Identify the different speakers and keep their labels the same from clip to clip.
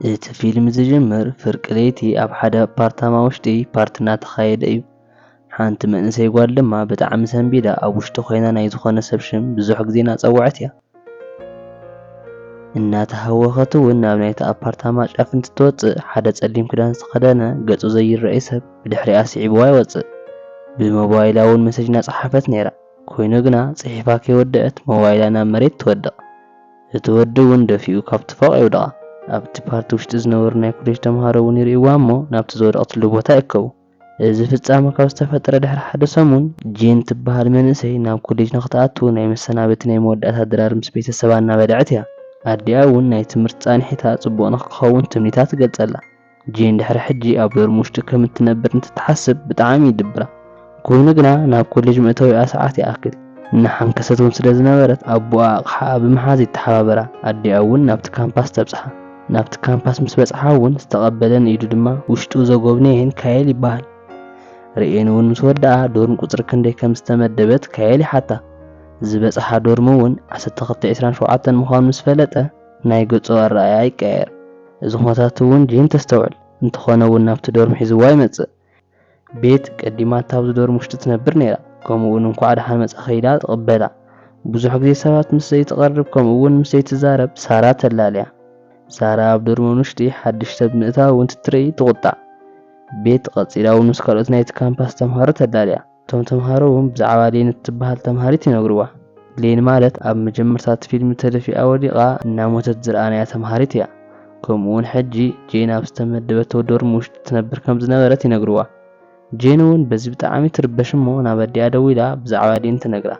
Speaker 1: እቲ ፊልም ዝጅምር ፍርቂ ለይቲ ኣብ ሓደ ኣፓርታማ ውሽጢ ፓርቲ እናተኻየደ እዩ። ሓንቲ መንእሰይ ጓል ድማ ብጣዕሚ ሰንቢዳ ኣብ ውሽጢ ኮይና ናይ ዝኾነ ሰብ ሽም ብዙሕ ግዜ እናፀወዐት እያ። እናተሃወኸት እውን ናብ ናይቲ ኣፓርታማ ጫፍ እንትትወፅእ ሓደ ፀሊም ክዳን ዝተኸደነ ገፁ ዘይረኣይ ሰብ ብድሕሪኣ ስዒብዋ ይወፅእ። ብሞባይላ እውን መሴጅ እናፀሓፈት ነይራ። ኮይኑ ግና ፅሒፋ ከይወደኣት ሞባይላ ናብ መሬት ትወድቕ። እቲ ወዲ እውን ደፊኡ ካብቲ ፎቕ የውድቓ። ኣብቲ ፓርቲ ውሽጢ ዝነበሩ ናይ ኮሌጅ ተምሃሮ እውን ይርእይዋ እሞ ናብቲ ዝወደቕትሉ ቦታ ይእከቡ። እዚ ፍጻመ ካብ ዝተፈጠረ ድሕሪ ሓደ ሰሙን፣ ጂን ትበሃል መንእሰይ ናብ ኮሌጅ ንኽትኣቱ ናይ መሰናበቲ ናይ መወዳእታ ድራር ምስ ቤተሰባ እናበልዐት እያ። ኣዲኣ እውን ናይ ትምህርቲ ፃንሒታ ፅቡቕ ንኽኸውን ትምኒታ ትገልፀላ። ጂን ድሕሪ ሕጂ ኣብ ዶርም ውሽጢ ከም እትነብር እንትትሓስብ ብጣዕሚ ይድብራ። ኮይኑ ግና ናብ ኮሌጅ መእተዊኣ ሰዓት ይኣክል እናሓንከሰት ውን ስለ ዝነበረት ኣቡኣ ኣቕሓኣ ብምሓዝ ይተሓባበራ። ኣዲኣ ውን ናብቲ ካምፓስ ተብጽሓ። ናብቲ ካምፓስ ምስ በጽሓ ውን ዝተቐበለን ኢዱ ድማ ውሽጡ ዘጎብነየን ካየል ይበሃል። ርእየን ውን ምስ ወደኣ ዶርም ቁጽሪ ክንደይ ከም ዝተመደበት ካየል ይሓታ። ዝበጽሓ ዶርም ውን ዓሰርተ ክልተ ዒስራን ሸውዓተን ምዃኑ ምስ ፈለጠ፣ ናይ ገጹ ኣረኣእያ ይቀያየር። እዚ ኩነታት እውን ጄን ተስተውዕል። እንተኾነ እውን ናብቲ ዶርም ሒዝዋ ይመጽእ። ቤት ቀዲማታ ኣብዚ ዶርም ውሽጢ ትነብር ነይራ፣ ከምኡ እውን እንኳዕ ደሓን መጻኺ ኢላ ትቕበላ። ብዙሕ ግዜ ሰባት ምስ ዘይትቐርብ ከምኡ እውን ምስ ዘይትዛረብ ሳራ ተላልያ። ሳራ ኣብ ዶርም ውሽጢ ሓድሽ ሰብ ምእታው እንትትርኢ ትቑጣዕ። ቤት ቐጺላ እውን ምስ ካልኦት ናይቲ ካምፓስ ተምሃሮ ተላልያ። እቶም ተምሃሮ እውን ብዛዕባ ሌን እትበሃል ተምሃሪት ይነግሩዋ። ሌን ማለት ኣብ መጀመርታ እቲ ፊልም ተደፊኣ ወዲቓ እናሞተት ዝረኣናያ ተምሃሪት እያ። ከምኡ እውን ሕጂ ጄን ኣብ ዝተመደበቶ ዶርም ውሽጢ ትነብር ከም ዝነበረት ይነግሩዋ። ጄን እውን በዚ ብጣዕሚ ትርበሽ እሞ ናብ ኣዲኣ ደዊላ ብዛዕባ ሌን ትነግራ።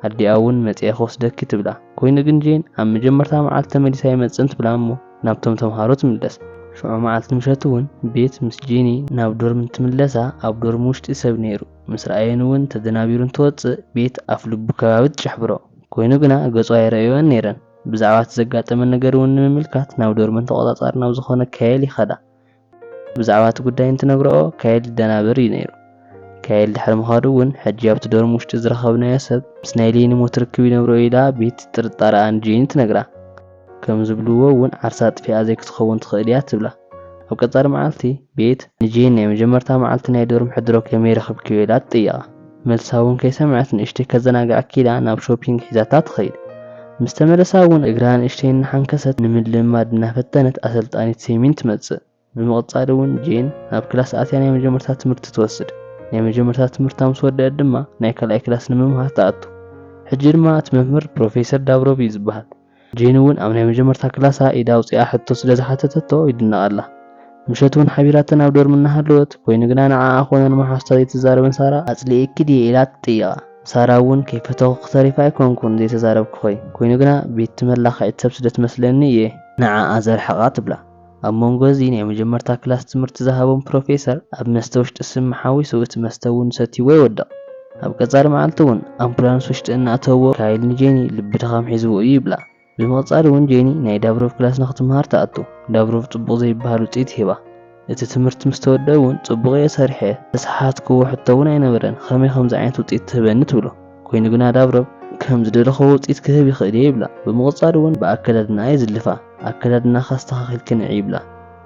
Speaker 1: ኣዲኣ እውን መፂኤ ክወስደኪ ትብላ። ኮይኑ ግን ጄን ኣብ መጀመርታ መዓልቲ ተመሊሰ ኣይመፅእን ትብላ እሞ። ናብቶም ተምሃሮ ትምለስ። ሽዑ መዓልቲ ምሸት እውን ቤት ምስ ጂኒ ናብ ዶርም እንትምለሳ ኣብ ዶርም ውሽጢ ሰብ ነይሩ። ምስ ረኣየን እውን ተደናቢሩ እንትወፅእ ቤት ኣፍ ልቡ ከባቢ ትጭሕብሮ። ኮይኑ ግና ገፁ ኣይረኣዩኦን ነይረን። ብዛዕባ እቲ ዘጋጠመን ነገር እውን ንምምልካት ናብ ዶርመን ተቖፃፃሪ ናብ ዝኾነ ካየል ይኸዳ። ብዛዕባ እቲ ጉዳይ እንትነግርኦ ካየል ይደናበር እዩ ነይሩ። ካየል ድሕሪ ምኻዱ እውን ሕጂ ኣብቲ ዶርም ውሽጢ ዝረኸብናዮ ሰብ ምስ ናይ ሌኒ ሞት ርክብ ይነብሮ ኢላ ቤቲ ጥርጣረኣ ንጄኒ ትነግራ። ከም ዝብልዎ እውን ዓርሳ ኣጥፊኣ ዘይክትኸውን ትኽእል እያ ትብላ። ኣብ ቀጻሊ መዓልቲ ቤት ንጄኒ ናይ መጀመርታ መዓልቲ ናይ ዶርም ሕድሮ ከመይ ረኽብክዮ ኢላ ትጥይቓ። መልሳ እውን ከይሰምዐት ንእሽተይ ከዘናግዓኪ ኢላ ናብ ሾፒንግ ሒዛታ ትኸይድ። ምስ ተመለሳ እውን እግራ ንእሽተይ እናሓንከሰት ንምልምማድ እናፈተነት ኣሰልጣኒት ሴሚን ትመጽእ። ብምቕጻል እውን ጄን ናብ ክላስ ኣትያ ናይ መጀመርታ ትምህርቲ ትወስድ። ናይ መጀመርታ ትምህርታ ምስ ወደኣት ድማ ናይ ካልኣይ ክላስ ንምምሃር ትኣቱ። ሕጂ ድማ እቲ መምህር ፕሮፌሰር ዳብሮቭ እዩ ዝበሃል። ጄኒ እውን ኣብ ናይ መጀመርታ ክላሳ ኢዳ ኣውጺኣ ሕቶ ስለ ዝሓተተቶ ይድነቓላ። ምሸት እውን ሓቢራተን ኣብ ዶርሚ እናሃለወት፣ ኮይኑ ግና ንዓኣ ኮነ ንመሓዙታ ዘይትዛረበን ሳራ፣ ኣጽሊኤኪ ድየ ኢላ ትጥይቓ፣ ሳራ እውን ከይፈተኹኪ ተሪፈ ኣይኮንኩን ዘይተዛረብኩኺ፣ ኮይኑ ግና ቤትቲ መላኸዒት ሰብ ስለ ትመስለኒ እየ ንዓኣ ዘርሕቓ ትብላ። ኣብ መንጎ እዚ ናይ መጀመርታ ክላስ ትምህርቲ ዝሃቦም ፕሮፌሰር ኣብ መስተ ውሽጢ ስሚ ሓዊሱ እቲ መስተ እውን ሰትይዎ ይወድቕ። ኣብ ቀፃሊ መዓልቲ እውን ኣምፑላንስ ውሽጢ እናእተውዎ ካይል ንጄኒ ልቢ ድኻም ሒዝዎ እዩ ይብላ። ብምቕፃል እውን ጄኒ ናይ ዳብሮቭ ክላስ ንክትምሃር ትኣቱ። ዳብሮቭ ፅቡቕ ዘይብሃል ውፅኢት ይህባ። እቲ ትምህርቲ ምስ ተወድኣ እውን ፅቡቕ እየ ሰሪሐ፣ ዝተሰሓትክዎ ሕቶ እውን ኣይነበረን፣ ኸመይ ኸምዚ ዓይነት ውፅኢት ትህበኒ ትብሎ። ኮይኑ ግና ዳብረብ ከም ዝደለኹዎ ውጽኢት ክህብ ይኽእል እየ ይብላ። ብምቕጻል እውን ብኣከዳድናኣ ይዝልፋ። ኣከዳድናኻ ኣስተኻኺልኪ ንዒ ይብላ።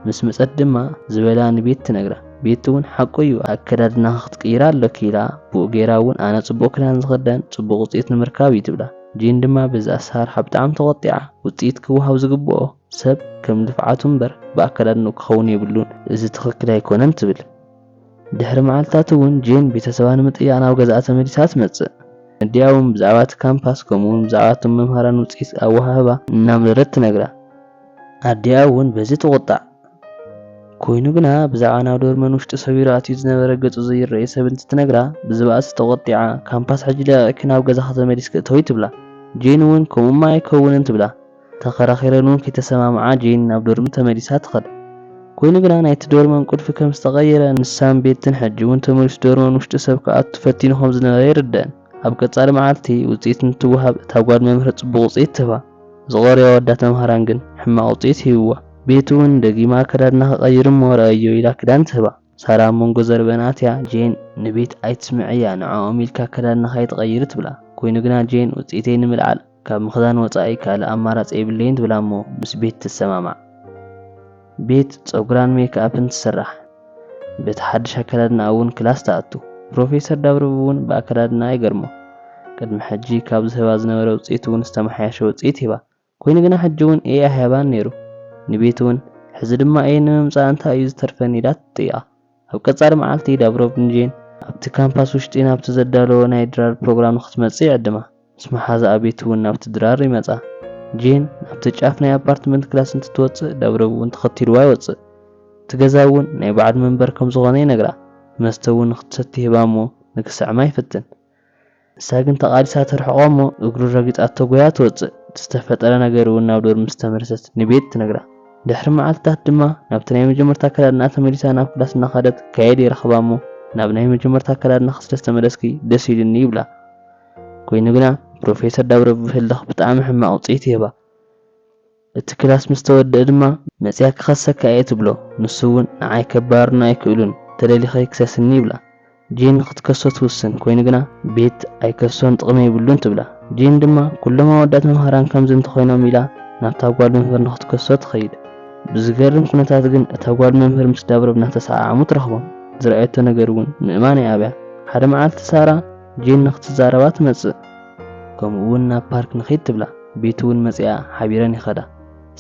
Speaker 1: ምስ መጸት ድማ ዝበላ ንቤቲ ትነግራ። ቤቲ እውን ሓቁ እዩ ኣከዳድናኺ ክትቅይሪ ኣሎኪ ኢላ ብኡ ገይራ እውን ኣነ ጽቡቕ ክዳን ዝኽደን ጽቡቕ ውጽኢት ንምርካብ እዩ ትብላ። ጂን ድማ በዚ ኣሰራርሓ ብጣዕሚ ተቖጢዓ። ውጽኢት ክወሃብ ዝግብኦ ሰብ ከም ልፍዓቱ እምበር ብኣከዳድንኡ ክኸውን የብሉን እዚ ትኽክል ኣይኮነን ትብል። ድሕሪ መዓልትታት እውን ጄን ቤተሰባ ንምጥያቕ ናብ ገዛኣ ተመሊሳ ትመጽእ። ንኣዲኣ እውን ብዛዕባ እቲ ካምፓስ ከምኡውን ብዛዕባ እቶም መምሃራን ውጽኢት ኣወሃህባ እናምረረት ትነግራ። ኣዲኣ እውን በዚ ትቑጣዕ። ኰይኑ ግና፣ ብዛዕባ ናብ ዶርመን ውሽጢ ሰቢሩ ኣትዩ ዝነበረ ገጹ ዘይረኣዮ ሰብ እንትትነግራ ብዝበኣሰ ተቖጢዓ፣ ካምፓስ ሕጂ ለቒቕኪ ናብ ገዛኺ ተመሊስኪ እተዊ ትብላ። ጄን እውን ከምኡ'ማ ኣይከውንን ትብላ። ተኸራኺረን ውን ከይተሰማምዓ ጄን ናብ ዶርሚ ተመሊሳ ትኸድ። ኮይኑ ግና ናይቲ ዶርመን ቁልፊ ከም ዝተቐየረ ንሳን ቤትን ሕጂ ውን ተመሊሱ ዶርመን ውሽጢ ሰብ ክኣቱ ፈቲኑ ከም ዝነበረ ይርደኣን። ኣብ ቀጻሊ መዓልቲ ውጽኢት እንትወሃብ እታ ጓል መምህር ጽቡቕ ውጽኢት ትህባ። ዝቐረዩ ኣወዳት መምሃራን ግን ሕማቕ ውጽኢት ሂብዋ። ቤቲ ውን ደጊማ ኣከዳድና ክቐይር እሞ ረኣይዮ ኢላ ክዳን ትህባ። ሳራ ኣብ መንጎ ዘረበኣን ኣትያ ጄን ንቤቲ ኣይትስምዕያ ንዕኦም ኢልካ ኣከዳድናኻ ኣይትቐይሪ ትብላ። ኮይኑ ግና ጄን ውጽኢተይ ንምልዓል። ካብ ምኽዛን ወጻኢ ካልእ ኣማራጺ የብለይን ትብላ'ሞ ምስ ቤት ትሰማማዕ። ቤት ጸጉራን ሜክኣፕን ትስራሕ። በቲ ሓድሽ ኣከዳድናኣ'ውን ክላስ ትኣቱ። ፕሮፌሰር ዳብርብ'ውን ብኣከዳድናኣ ይገርሞ። ቅድሚ ሕጂ ካብ ዝህባ ዝነበረ ውጽኢት'ውን ዝተመሓየሸ ውጽኢት ሂባ። ኰይኑ ግና ሕጂ'ውን እየ ኣይሃባን ነይሩ። ንቤት'ውን ሕዚ ድማ እየ ንምምጻእ እንታይ'ዩ ዝተርፈኒ ኢላ ትጥይቓ። ኣብ ቀጻሊ መዓልቲ ዳብሮቭንጂን ኣብቲ ካምፓስ ውሽጢ ናብቲ ዘዳለዎ ናይ ድራር ፕሮግራም ንክትመጽእ ይዕድማ። ምስ መሓዝኣ ቤቲ'ውን ናብቲ ድራር ይመጻ። ጂን ናብቲ ጫፍ ናይ ኣፓርትመንት ክላስ እንትትወጽእ ዳብሮቭ'ውን ተኸቲልዋ ይወጽእ። እቲ ገዛ'ውን ናይ ባዕሉ መንበሪ ከምዝኾነ ይነግራ። መስተ'ውን ንክትሰቲ ይህባ'ሞ ንክስዕማ ይፍትን። ንሳ ግን ተቓሊሳ ትርሕቖ እሞ እግሩ ረጊጻቶ ጎያ ትወጽእ። እቲ ዝተፈጠረ ነገር እውን ናብ ዶርም ምስ ተመለሰት ንቤት ትነግራ። ድሕሪ መዓልትታት ድማ ናብቲ ናይ መጀመርታ ኣከዳድናኣ ተመሊሳ ናብ ክላስ እናኸደት ጋይል ይረኽባ እሞ ናብ ናይ መጀመርታ ኣከዳድናኺ ስለ ዝተመለስኪ ደስ ኢሉኒ ይብላ። ኮይኑ ግና ፕሮፌሰር ዳብረብብ ህልኽ ብጣዕሚ ሕማቕ ውጽኢት ይህባ። እቲ ክላስ ምስ ተወድኣ ድማ መጺኣ ክኸሰካ እየ ትብሎ። ንሱ እውን ንዓይ ከባርሩኒ ኣይክእሉን፣ ተደሊኺ ክሰስኒ ይብላ። ጂን ንኽትከሶ ትውስን፣ ኮይኑ ግና ቤት ኣይከሶን ጥቕሚ የብሉን ትብላ። ጂን ድማ ኩሎም ኣወዳት መምሃራን ከምዚ እንተኾይኖም ኢላ ናብታ ጓል መምህር ንኽትከሶ ትኸይድ። ብዝገርም ኩነታት ግን እታ ጓል መምህር ምስ ዳብሮቭ እናተሰዓዓሙ ትረኽቦም። ዝረኣየቶ ነገር እውን ምእማን ኣይኣብያ። ሓደ መዓልቲ ሳራ ጂን ንኽትዛረባ ትመጽእ። ከምኡ እውን ናብ ፓርክ ንኺድ ትብላ። ቤቲ እውን መጺኣ ሓቢረን ይኸዳ።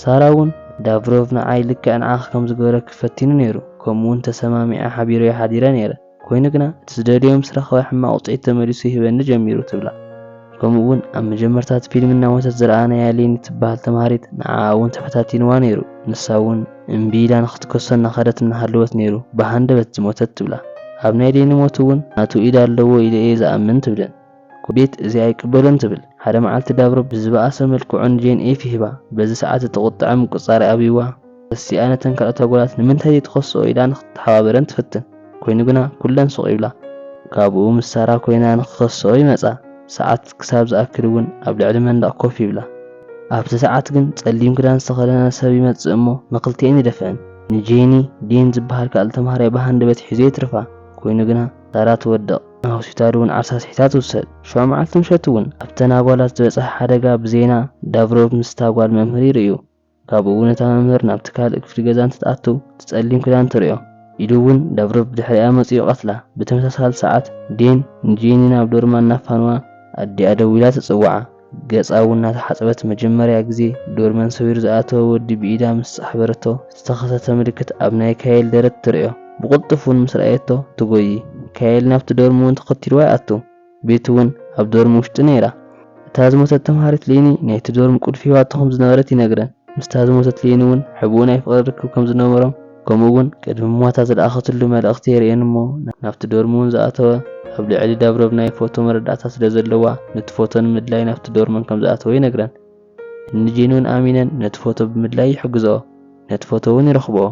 Speaker 1: ሳራ እውን ዳቭሮቭ ንዓይ ልክዕ ንዓኺ ከም ዝገበረኪ ፈቲኑ ነይሩ፣ ከምኡ እውን ተሰማሚዐ ሓቢረዮ ሓዲረ ነይረ፣ ኰይኑ ግና እቲ ዝደልዮ ምስ ረኸበ ሕማቕ ውጽኢት ተመሊሱ ይህበኒ ጀሚሩ ትብላ። ከምኡ እውን ኣብ መጀመርታ እቲ ፊልም እናሞተት ዝረኣናያ ሌኒ እትበሃል ተማሃሪት ንዓኣ እውን ተፈታቲንዋ ነይሩ፣ ንሳ እውን እምቢ ኢላ ንኽትከሶ እናኸደት እናሃለወት ነይሩ ብሃንደበት ዝሞተት ትብላ። ኣብ ናይ ሌኒ ሞት እውን ናቱ ኢድ ኣለዎ ኢለ እየ ዝኣምን ትብለን። ኩቤት እዚ ኣይቅበሎን ትብል። ሓደ መዓልቲ ዳብሮ ብዝበኣሰ መልክዑ ንጄን ኤፍ ይህባ። በዚ ሰዓት እቲ ቁጥዐ ምቁጽጻር ይኣብይዋ። ተሲኣ ነተን ካልኦት ኣጓላት ንምንታይ ዘይትኸስኦ ኢላ ንክትተሓባበረን ትፍትን። ኮይኑ ግና ኩለን ሱቕ ይብላ። ካብኡ ምስ ሳራ ኮይና ንክኸስኦ ይመጻ። ሰዓት ክሳብ ዝኣክል እውን ኣብ ልዕሊ መንደቕ ኮፍ ይብላ። ኣብቲ ሰዓት ግን ጸሊም ክዳን ዝተኸደነ ሰብ ይመጽእ እሞ ንክልቲኤን ይደፍእን። ንጄኒ፣ ዴን ዝበሃል ካልእ ተምሃራይ ብሃንደበት ሒዙ የትርፋ። ኮይኑ ግና። ታራ ትወድቕ፣ ናብ ሆስፒታል እውን ዓርሳ ስሒታ ትውሰድ። ሸውዓይ መዓልቲ ምሸት እውን ኣብተን ኣጓላት ዝበጽሐ ሓደጋ ብዜና ዳቭሮቭ ምስታ ጓል መምህር ይርእዩ። ካብኡ እውን እታ መምህር ናብቲ ካልእ ክፍሊ ገዛ እንትትኣቱ እቲ ጸሊም ክዳን ትርእዮ። ኢሉ እውን ዳቭሮቭ ብድሕሪኣ መጺኡ ይቐትላ። ብተመሳሳሊ ሰዓት ዴን ንጄኒ ናብ ዶርማ እናፋነዋ ኣዲኣ ደዊላ ትጽውዓ። ገጻ እውን እናተሓጽበት መጀመርያ ግዜ ዶርመን ሰቢሩ ዝኣተወ ወዲ ብኢዳ ምስ ጻሕበረቶ ዝተኸሰተ ምልክት ኣብ ናይ ካየል ደረት ትርእዮ። ብቕልጡፍ እውን ምስ ረኣየቶ ትጎዪ። ካየል ናብቲ ዶርም እውን ተኸቲልዋ ይኣቱ። ቤቲ እውን ኣብ ዶርም ውሽጢ ነይራ። እታ ዝሞተት ተምሃሪት ሌኒ ናይቲ ዶርም ቁልፊ ሂባቶ ከም ዝነበረት ይነግረን። ምስታ ዝሞተት ሌኒ እውን ሕቡእን ኣይፍቕርን ርክብ ከም ዝነበሮም፣ ከምኡ እውን ቅድሚ ሞታ ዝለኣኸትሉ መልእኽቲ የርእየን እሞ ናብቲ ዶርም እውን ዝኣተወ ኣብ ልዕሊ ዳብሮቭ ናይ ፎቶ መረዳእታ ስለ ዘለዋ ንቲ ፎቶ ንምድላይ ናብቲ ዶርመን ከም ዝኣተወ ይነግረን እኒ ጄን እውን ኣሚነን ነቲ ፎቶ ብምድላይ ይሕግዝኦ ነቲ ፎቶ እውን ይረኽብኦ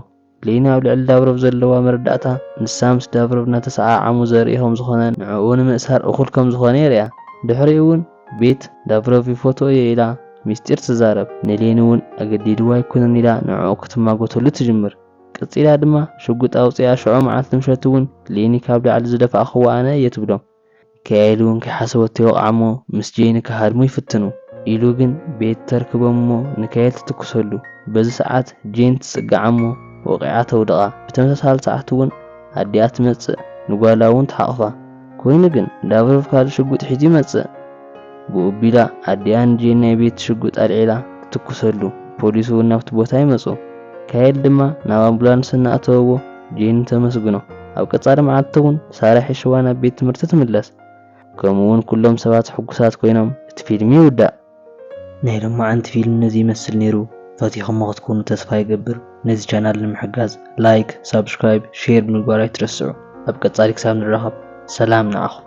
Speaker 1: ሌኒ ኣብ ልዕሊ ዳብሮቭ ዘለዋ መረዳእታ ንሳ ምስ ዳብሮቭ እናተሰዓዓሙ ዘርኢ ከም ዝኾነን ንዕኡ ንምእሳር እኹል ከም ዝኾነ የርእያ ድሕሪኡ እውን ቤት ላቭሮቭ ይፎትዎ እየ ኢላ ሚስጢር ትዛረብ፣ ንሌኒ እውን ኣገዲድዋ ኣይኮነን ኢላ ንዕኡ ክትማጎተሉ ትጅምር። ቀጺላ ድማ ሽጉጥ ኣውጺኣ ሽዑ መዓልቲ ምሸት እውን ሌኒ ካብ ላዕሊ ዝደፋእክዋ ኣነ እየ ትብሎም። ሚካኤል እውን ከይሓሰበቶ ይወቕዓ እሞ ምስ ጄኒ ክሃድሙ ይፍትኑ። ኢሉ ግን ቤት ተርክቦም እሞ ንካኤል ትትኩሰሉ። በዚ ሰዓት ጄን ትጽግዓ እሞ ወቒዓ ተውድቓ። ብተመሳሳሊ ሰዓት እውን ኣዲኣ ትመጽእ ንጓላ እውን ትሓቑፋ። ኮይኑ ግን ላቭሮቭ ካልእ ሽጉጥ ሒዙ ይመጽእ። ብኡ ኣቢላ ኣዲኣ ንጄን ናይ ቤት ሽጉጥ ኣልዒላ ትትኩሰሉ። ፖሊስ'ውን ናብቲ ቦታ ይመጹ። ካየል ድማ ናብ ኣምቡላንስ እናእተወዎ ጄን ተመስግኖ። ኣብ ቀጻሊ መዓልቲ'ውን ሳራ ሒሽዋ ናብ ቤት ትምህርቲ ትምለስ። ከምኡ'ውን ኩሎም ሰባት ሕጉሳት ኮይኖም እቲ ፊልም ይውዳእ። ናይ ሎማዓንቲ ፊልም ነዚ ይመስል ነይሩ ፈቲኹሞ ክትኮኑ ተስፋ ይገብር ነዚ ቻናል ንምሕጋዝ ላይክ ሳብስክራይብ ሼር ብምግባር ኣይትረስዑ ኣብ ቀፃሊ ክሳብ ንራኸብ ሰላም ንዓኹም።